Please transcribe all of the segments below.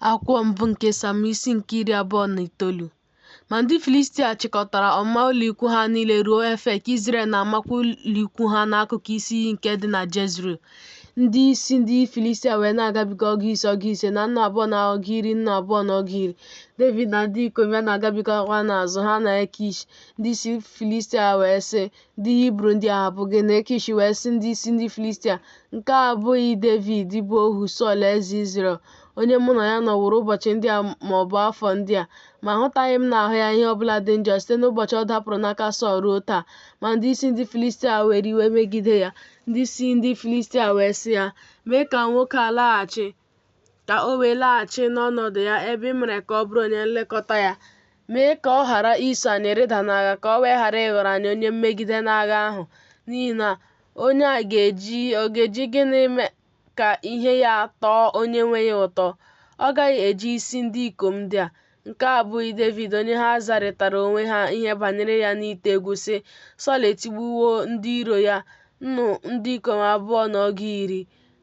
Akwụkwọ mbụ nke Sam isi nke iri abụọ na itoolu. Ma ndị Filistia chịkọtara ọmụma ụlọikwu ha niile ruo Efek, Izrel na-amakwa ụlọikwu ha n'akụkụ isi iyi nke dị na Jezril. Ndị isi ndị Filistia wee na-agabiga ọgụ ise ọgụ ise na nnu abụọ na ọgụ iri nnu abụọ na ọgụ iri. Devid na ndị ikom ya na-agabigakwa n'azụ ha na Ekish. Ndị isi Filistia wee sị, Ndị Hibru ndị a, ha bụ gịnị? Ekish wee sị ndị isi ndị Filistia, Nke a abụghị Devid bụ ohu Sọl eze Izrel, onye mụ na ya nọworo ụbọchị ndị a ma ọ bụ afọ ndị a, ma ahụtaghị m n'ahụ ya ihe ọbụla dị njọ site n'ụbọchị ọ dapụrụ n'aka Sọl ruo taa. Ma ndị isi ndị Filistia were iwe megide ya. Ndị isi ndị Filistia wee sị ya, Mee ka nwoke a laghachi, ka o wee laghachi n'ọnọdụ ya ebe ị mere ka ọ bụrụ onye nlekọta ya. Mee ka ọ ghara iso anyị rịda n'agha ka o wee ghara ịghọrọ anyị onye mmegide n'agha ahụ, n'ihi na onye a ga-eji gịnị mee ka ihe ya tọọ onye nwe ya ụtọ? Ọ gaghị eji isi ndị ikom ndị a. Nke a abụghị Devid onye ha zarịtara onwe ha ihe banyere ya n'ite egwu sị, Sọl etigbuwo ndị iro ya, nnu ndị ikom abụọ na ọgụ iri.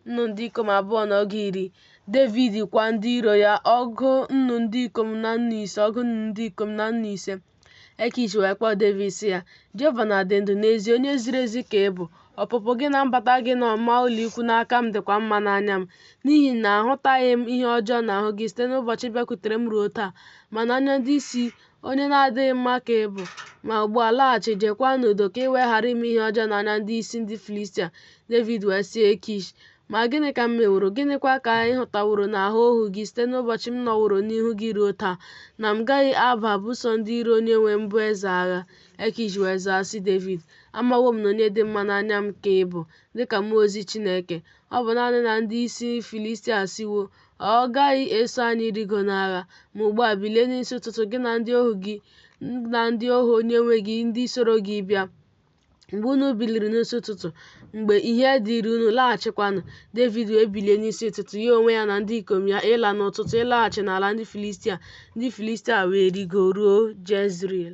nnu ndị ikom abụọ na ọgụ iri Devid kwa ndị iro ya ọgụ nnu ndị ikom na nnu ise ọgụ nnu ndị ikom na nnu ise Ekish wee kpọọ Devid sị ya Jehova na-adị ndụ n'ezie onye ziri ezi ka ị bụ ọpụpụ gị na mbata gị n'ọmụma ụlọikwu n'aka m dịkwa mma n'anya m n'ihi na ahụtaghị m ihe ọjọọ n'ahụ gị site n'ụbọchị ị bịakwutere m ruo taa ma n'anya ndị isi Onye na-adịghị mma ka ị bụ. Ma ugbu a laghachi, jeekwa n'udo, ka ị wee ghara ime ihe ọjọọ n'anya ndị isi ndị Filistia. Devid wee sị Ekish, Ma gịnị ka m meworo? Gịnịkwa ka ị hụtaworo n'ahụ ohu gị site n'ụbọchị m nọworo n'ihu gị ruo taa, na m gaghị aba buso ndị iro onye nwe m bụ eze agha? Ekish wee zaa sị Devid, Amawo m na onye dị mma n'anya m ka ị bụ, dịka mmụọ ozi Chineke. Ọ bụ naanị na ndị isi Filistia asịwo, Ọ gaghị eso anyị rigo n'agha. Ma ugbu a bilie n'isi ụtụtụ gị na ndị ohu gị na ndị ohu onye nwe gị ndị soro gị bịa. Mgbe unu biliri n'isi ụtụtụ, mgbe ihe dịrị unu, laghachikwanụ. Devid wee bilie n'isi ụtụtụ, ya onwe ya na ndị ikom ya, ịla n'ụtụtụ ịlaghachi n'ala ndị Filistia. Ndị Filistia wee rigoruo Jezril.